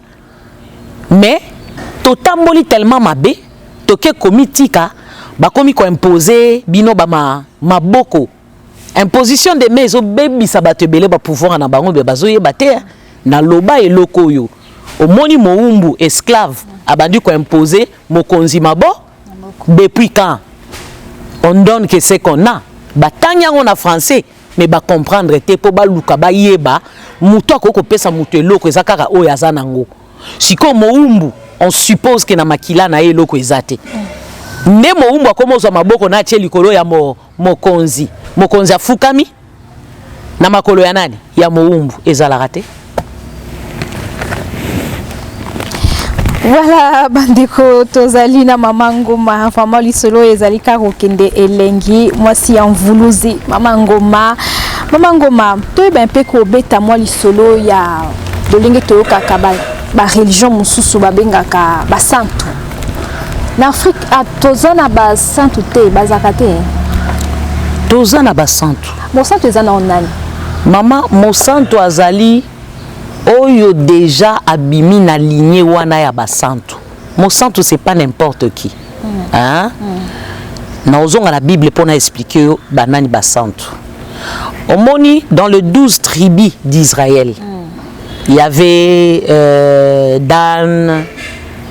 mais totamboli tellement mabe toke komitika bakomi koimpose bino bama maboko imposition de mai ezobebisa bato ebele bapouvoir na bango be bazoyeba te naloba eloko oyo omoni mowumbu esclave abandi koimpose mokonzi maboko depuis quand on donne que ce qu'on a batangi yango na français mais bacomprendre te mpo baluka bayeba moto akoki kopesa moto eloko eza kaka oyo aza nango sikoyo mowumbu on suppose ke na makila na ye eloko eza te nde mowumbu akoma ozwa maboko na atie likolo ya mo, mokonzi mokonzi afukami na makolo ya nani ya mowumbu ezalaka te voilà bandeko tozali na mama ngoma vraiment lisolo oyo ezali kaka kokende elengi mwasi ya mvuluzi mama ngoma mama ngoma toyeba mpe kobeta mwa lisolo ya lolenge toyokaka bareligion mosusu babengaka basantu na afrique ah, toza na basantu te bazalaka te hein? toza na basantu mosantu eza na nani mama mosantu azali oyo deja abimi na ligne wana ya basantu mosantu c'est pas n'importe qui mm. hein? mm. naozonga na bible mpo na explike yo banani basantu omoni dans le 12 tribu d'israël mm. Il y avait euh, Dan,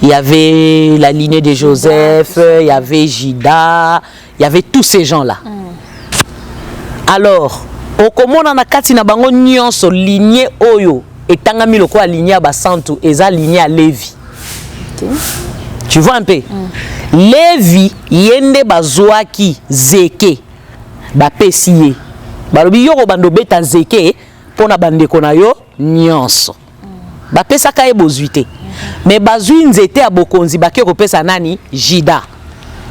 il y avait la lignée de Joseph, il y avait Jida, il y avait tous ces gens-là. Mm. Alors, okomona na kati na bango nyonso lignée oyo etangami lokola lignée ya basantu eza lignée ya Levi. Okay. Tu vois un peu? Mm. Levi ye nde bazwaki zeke bapesi ye balobi yo kobanda obeta zeke mpo na bandeko na yo nyonso bapesaka ye bozwi te me bazwi nzete ya bokonzi bake kopesa nani jida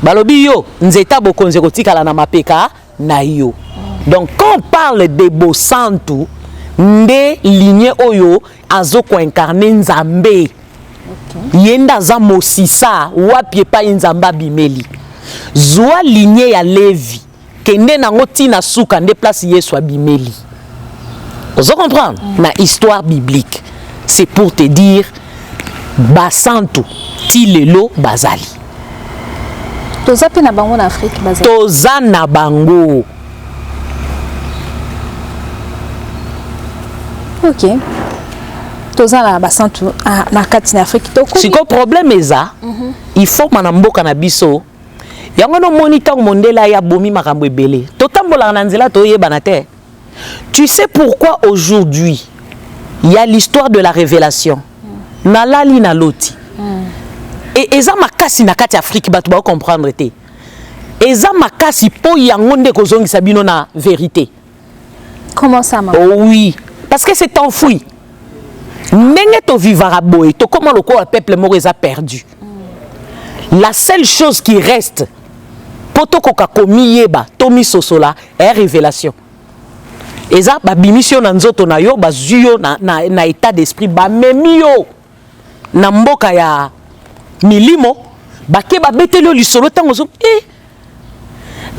balobi yo nzete ya bokonzi ekotikala na mapeka na yo donc quand on parle de bosantu nde ligne oyo azokoincarne nzambe okay. ye nde aza mosisa wapi epai nzambe abimeli zwa ligne ya levi Kende nango ti na suka nde place Yesu abimeli. Ozo comprendre? Mm. Na histoire biblique. C'est pour te dire basantu ti lelo bazali. Toza pe na bango na Afrique bazali. Toza na bango. Ok. Toza na basantu ah, na kati na Afrique toko. Siko problème eza. Mm -hmm. Il faut mana mboka na biso yango wana omoni ntango mondele aye abomi makambo ebele totambolaka na nzela toyebana te tu sais pourquoi aujourd'hui il y a l'histoire de la révélation nalali na loti e, eza makasi na kati ya afrike bato baocomprendre te eza makasi mpo yango nde ekozongisa bino na verité Comment ça, maman? Oh oui, parce que c'est enfoui. Ndenge to vivara boye, to koma lokola peuple moko eza perdu. La seule chose qui reste po tokoka komiyeba to misosola est révélation. Eza babimisi yo na nzoto na yo, bazwi yo na, na, na état d'esprit, bamemi yo. na mboka ya milimo bake babeteli yo lisolo ntango ozo e eh,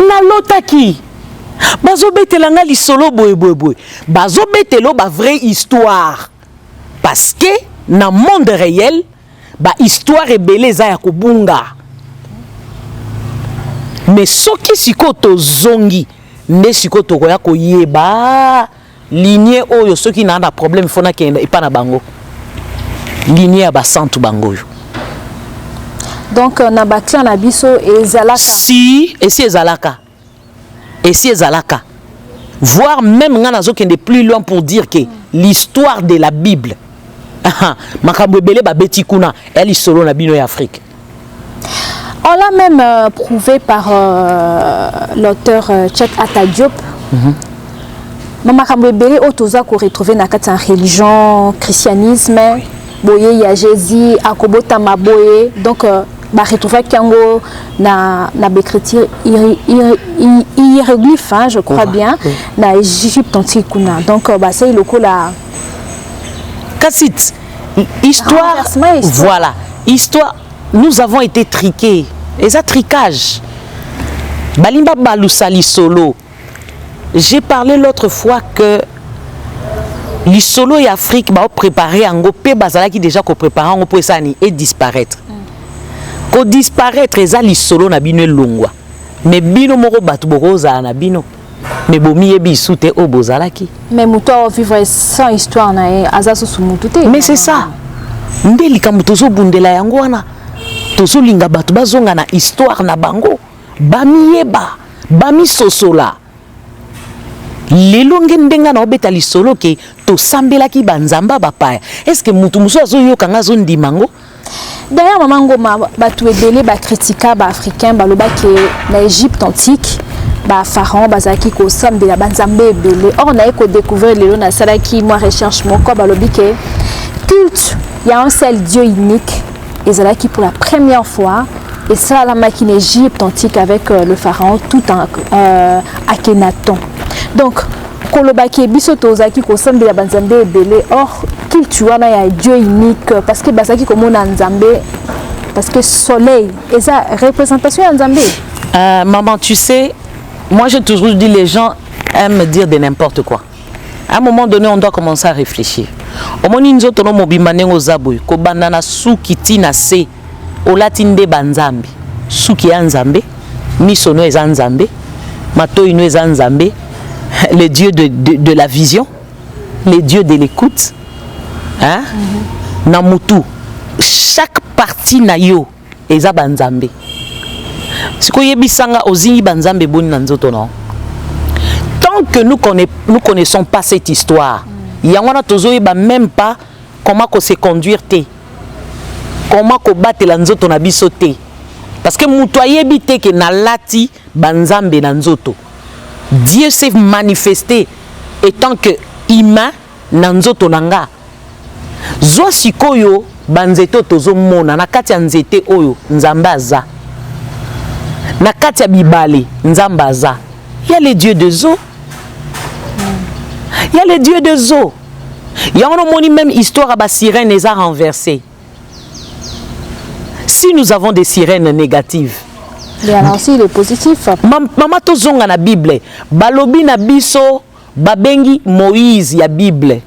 nalotaki bazobetela nga lisolo boyeboyeboye bazobetela ba vraie histoire parce que na monde réel bahistoire ebele eza ya kobunga mais soki sikoyo tozongi nde sikoyo tokoya koyeba lignée oyo soki naa na problème fo nakenda epa na bango lignée ya basantu bango oyo donc euh, na baclan na biso ezalaka si esi ezalaka esi ezalaka voir même ngai nazokende plus loin pour dire que l'histoire de la bible makambo ebele babeti kuna ya lisolo na bino ya afrique On l'a même euh, prouvé par euh, l'auteur euh, Tchèque Atta Diop. Mm -hmm. Mais makambo ebele oyo toza ko retrouver na kati ya religion, christianisme, oui. boye ya Jésus akobotama boye. Donc euh, ba retrouvaki yango na na b'écriture hiéroglyphe hein, je crois oui. bien oui. na Égypte antique kuna. Donc euh, ba sey lokola Kassit histoire voilà histoire nous avons été triqués eza tricage balingi babalusa lisolo j'ai parlé l'autre fois que lisolo ya afrique baoprépare yango mpe bazalaki déjà koprépare yango mpo esani edisparaître mm. kodisparaître eza lisolo na bino elongwa mais bino moko bato bokozala na bino mais bomiyebi isu te oyo bozalaki mais moto ao vivre sans histoire na ye aza susu motu te mais c'est ça nde likambo tozobundela yango wana tozolinga bato bazonga na histoire na bango bamiyeba bamisosola lelo nge ndenge na obeta lisolo ke tosambelaki banzambe bapaya estce motu mosusu azoyoka nga azondima yango D'ailleurs, Maman Ngoma, batu ebele ba critika ba africains baloba que na Égypte antique ba pharaons bazalaki kosambela ba nzambe ebele. Or naye ko découvrir lelo nasalaki mwa recherche moko balobi que culte ya un seul Dieu unique ezalaki pour la première fois esalamaki na Égypte antique avec euh, le pharaon tout en euh, Akhenaton. Donc koloba ke biso tozalaki kosambela banzambe ebele or culte wana ya dieu unique parce que bazalaki komona nzambe parce que soleil eza représentation ya nzambe euh, maman tu sais moi j'ai toujours dit les gens aiment dire de n'importe quoi à un moment donné on doit commencer à réfléchir omoni nzoto no mobimba ndenge oza boye kobanda na suki ti na se olati nde ba nzambe suki ya nzambe miso no eza nzambe matoyi no eza nzambe le dieu de, de, de la vision le dieu de l'écoute hein? mm -hmm. na mutu chaque partie na yo eza ba nzambe sikoyo yebisanga ozingi ba nzambe boni na nzoto na tant que nous, connaît, nous connaissons pas cette histoire mm. yango wana tozoyeba même pas comment ko se conduire te comment kobatela nzoto na biso te parce que moto ayebi te ke nalati banzambe na nzoto dieu s'est manifeste etant que humain na nzoto na nga zwa sikoyo banzete oyo tozomona na kati ya nzete oyo nzambe aza na kati ya bibale nzambe aza ya le dieu de zo ya le dieu de zo yango no moni meme histoire ya ba sirène eza renverse si nous avons des sirènes négatives mama tozonga na bible balobi na biso babengi moïse ya bible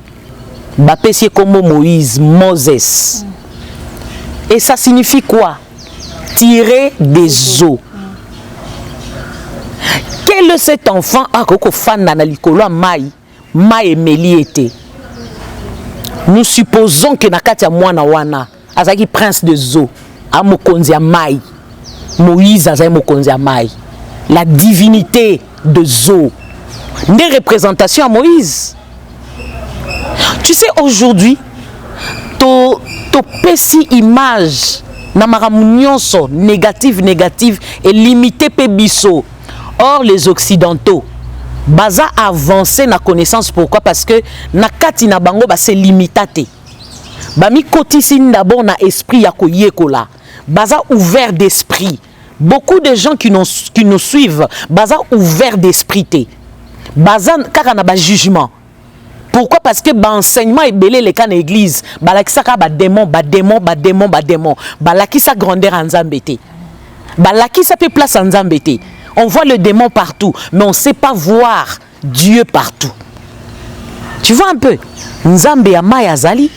bapesi ye nkombo moïse moses mm. et ça signifie quoi tirer des eaux quel cet enfant akoki kofanda na likolo ya mai Mayi emeli ye te. Nous supposons que na kati ya mwana wana azalaki prince de zo a mokonzi ya mayi. Moïse azali mokonzi ya mayi. La divinite de zo nde representation ya Moïse. Tu sais aujourd'hui to topesi image na makambo nyonso negative negative elimite mpe biso. Or les occidentaux baza avancer na connaissance pourquoi parce que na kati na bango ba se limita te bamikotisi d'abord na esprit ya koyekola baza ouvert d'esprit beaucoup de gens qui, qui nous suivent baza ouvert d'esprit te baza kaka na bajugement Pourquoi Parce que ba enseignement ebele leka na église, balakisaka ba démons, ba démons, ba démons, ba démons. Balakisa grandeur ya Nzambe te. Balakisa pe place ya Nzambe te. On voit le démon partout, mais on sait pas voir Dieu partout. Tu vois un peu Nzambe ya mayi azali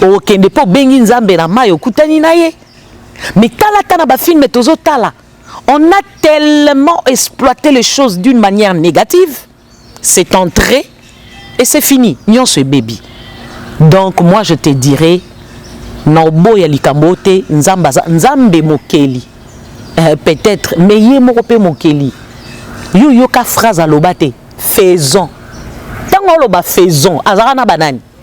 okende mpo obengi Nzambe na mayi okutani na ye mais tala ata na bafilme tozotala on a tellement exploité les choses d'une manière négative c'est entré et c'est fini nyonso ebebi donc moi je te dirai na oboya likambo oyo te nzambe aza nzambe mokeli euh, peut-être mais ye moko mpe mokeli yo yoka phrase aloba te faisons ntango oloba faisons azalaka na banani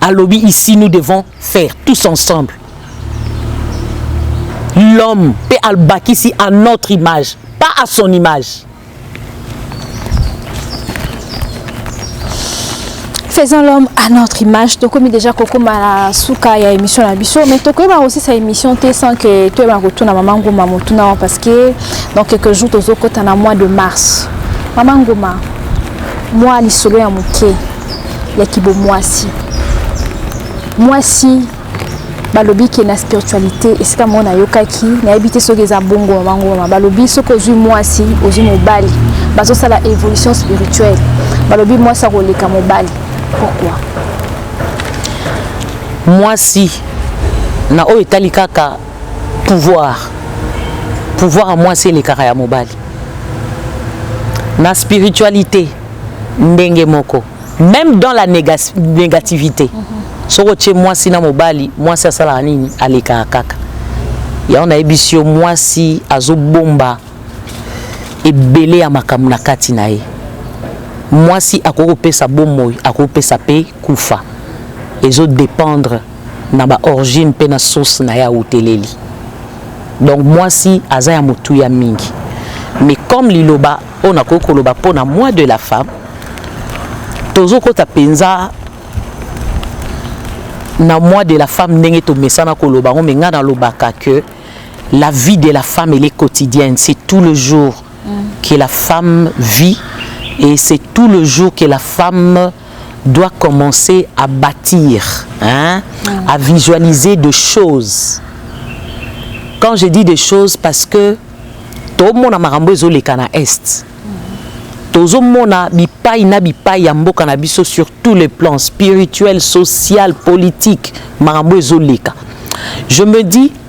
alobi ici nous devons faire tous ensemble l'homme mpe albakisi à notre image pas à son image faisons l'homme à notre image tokomi déjà kokoma na suka ya émission na biso mais tokoyeba kosisa émission te sans que toyeba kotuna mama ngoma motuna parce que dans quelques jours tozokota na mois de mars mama ngoma Mwa lisolo ya moke ya kibomwasi. Mwasi balobi ke na spiritualité esika moko nayokaki nayebi te soki eza bongo mama ngoma balobi soki ozwi mwasi ozwi mobali bazosala évolution spirituelle balobi mwasi akoleka mobali pourquoi mwasi na oyo etali kaka pouvoir pouvoir ya mwasi elekaka ya mobali na spiritualite ndenge moko même dans la néga négativité mm -hmm. soki otie mwasi na mobali mwasi asalaka nini alekaka kaka yango nayebisi yo mwasi azobomba ebele ya makambo na kati na ye mwasi akoki kopesa bomoi akoki kopesa mpe kufa ezodépendre na ba origine mpe na source na ye awuteleli donc mwasi aza ya motuya mingi mais comme liloba oyo nakoki koloba mpo na moi de la femme tozokota mpenza na moi de la femme ndenge tomesana koloba yango mais ngai nalobaka que la vie de la femme elle est quotidienne c'est tout le jour mm. que la femme vit et c'est tout le jour que la femme doit commencer à bâtir, hein, mm. à visualiser des choses. Quand je dis des choses, parce que tout le monde a marambo les cana est. tozomona bipai na bipai ya mboka na biso sur tous les plans spirituel social politique makambo ezoleka je me dis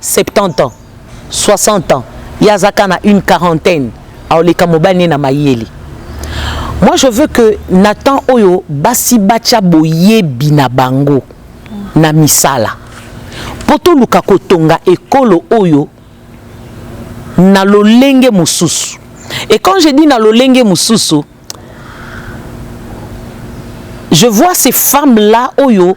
70 ans 60 ans ye aza ka na une quarantaine aoleka mobali ne na mayele moi je veux que na temps oyo basi batya boyebi na bango na misala mpo toluka kotonga ekolo oyo na lolenge mosusu et quand je dis na lolenge mosusu je vois ces femmes là oyo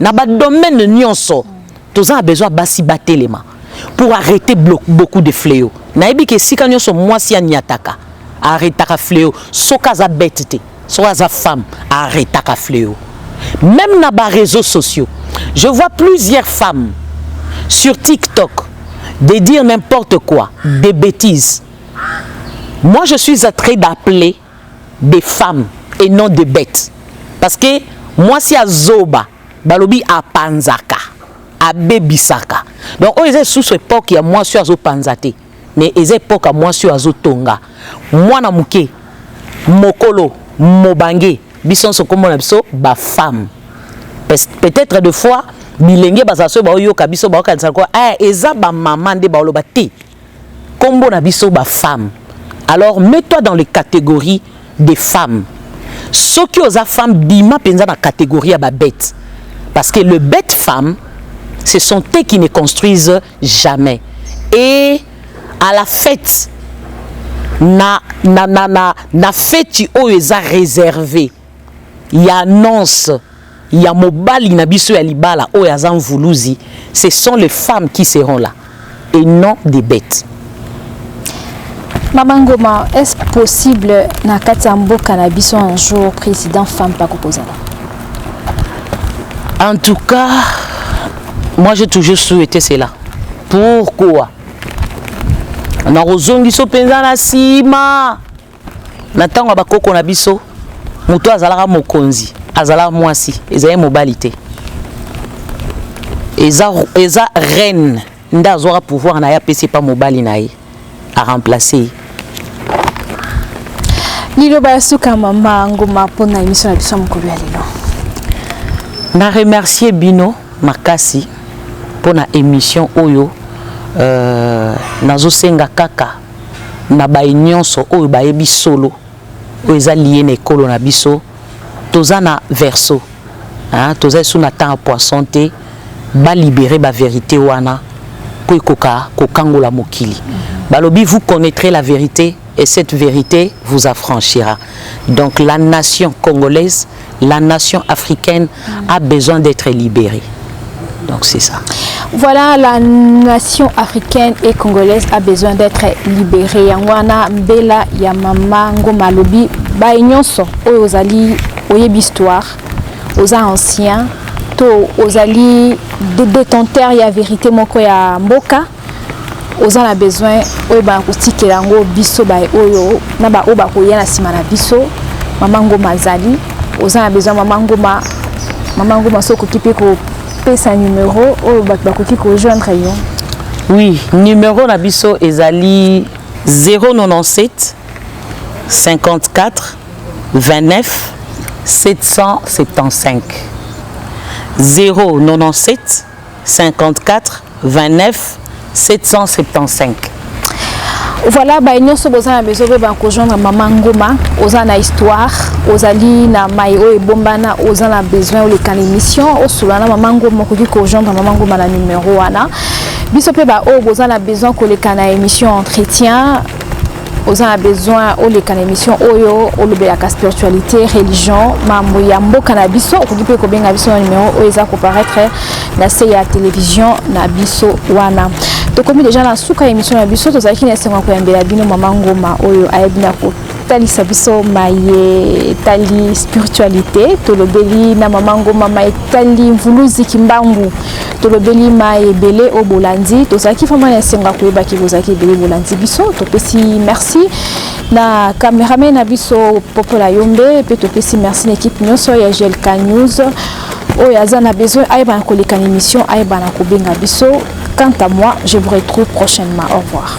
Na ba domaines nionso toza na besoin basi batelema pour arreter beaucoup de fleaux. Nayebi ke esika nionso mwasi anyataka arretaka fleaux soki aza bete te soki aza femme arretaka fleaux. Meme na ba reseaux sociaux je vois plusieurs femmes sur TikTok de dire n'importe quoi, des betises. Moi je suis très d'appeler des femmes et non des betes parce que mwasi ya zoba balobi apanzaka abebisaka donc oyo eza lisusu epoke ya mwasi oyo azopanza te mais eza epoke ya mwasi oyo azotonga mwana moke mokolo mobange biso nyonso nkombo na biso bafemme peut-être de fois bilenge bazala soki baoyoka biso baokanisa lokola eh, eza bamama nde baoloba te Kombo na biso ba femmes alors mets toi dans les categories des femmes soki oza femme bima penza na categorie ya ba bete parce que le bete femme ce sont eux qui ne construisent jamais et à la fête na na na na, na feti oyo eza réservé ya annonce ya mobali na biso ya libala oyo aza mvuluzi ce sont les femmes qui seront là et non des bêtes Maman Ngoma, est-ce possible na kati ya mboka na biso un jour président femme pas kokozala En tout cas, moi j'ai toujours souhaité cela. Pourquoi nakozongiso mpenza na nsima Na ntango ya bakoko na biso, moto azalaka mokonzi, azalaka mwasi, ezali mobali te. Eza, eza reine nde azwaka pouvoir na ye apesi epa mobali na ye aremplace ye. Liloba ya suka mama Nguma mpo na emission na biso ya mokolo ya lelo. Na remercier bino makasi mpo na emission oyo euh, nazosenga kaka na baye nionso oyo bayebi solo oyo eza lie na ekolo na biso toza na verso hein toza lisusu na temps ya poisson te ba libere ba verite wana po ekoka kokangola mokili balobi vous connaitrez la verite et cette verite vous affranchira donc la nation congolaise La nation africaine a besoin d'être libérée. Donc c'est ça. Voilà, la nation africaine et congolaise a besoin d'être libérée. Yangwana Mbela Yamama Ngoma Lobi, Baye Nyonso, Oyo Ozali, Oyeb Histoire, Oza Ancien, To Ozali, Détenteur Ya Vérité Moko Ya Mboka, oza na besoin oyebaka kotikela yango biso baye oyo na baoyo bakoya na nsima na biso mama ngoma azali oza na besoin mama ngoma mama ngoma soki okoki mpe kopesa numero oyo bato bakoki kojoindre yo oui numero na biso ezali 097 54 29 775 097 54 29 775 voilà baye nyonso boza na besoin boyeba kojoindre mama ngoma oza na histoire ozali na mai oyo ebombana oza na besoin oleka na émission osolola na mama ngoma okoki kojoindre mama ngoma na numero wana biso mpe baoyo boza na besoin koleka na émission entretien oza na besoin oleka na émission oyo olobelaka spiritualité religion mambo ya mboka na biso okoki mpe kobenga biso na numero oyo eza koparaître na se ya télévision na biso wana tokomi deja na suka ya émission na biso tozalaki na esengo ya koyambela bino mama ngoma oyo ayebi na kotalisa biso maye etali spiritualité tolobeli na mama ngoma ma etali mvuluzi kimbangu tolobeli mai ebele oyo bolandi tozalaki vraiment na esengo ya koyeba ke bozalaki ebele bolandi biso topesi merci na cameraman na biso popola yombe mpe topesi merci na ekipe nyonso ya glk news oyo aza na besoin ayeba na koleka na émission ayeba na kobenga biso quant à moi je vous retrouve prochainement au revoir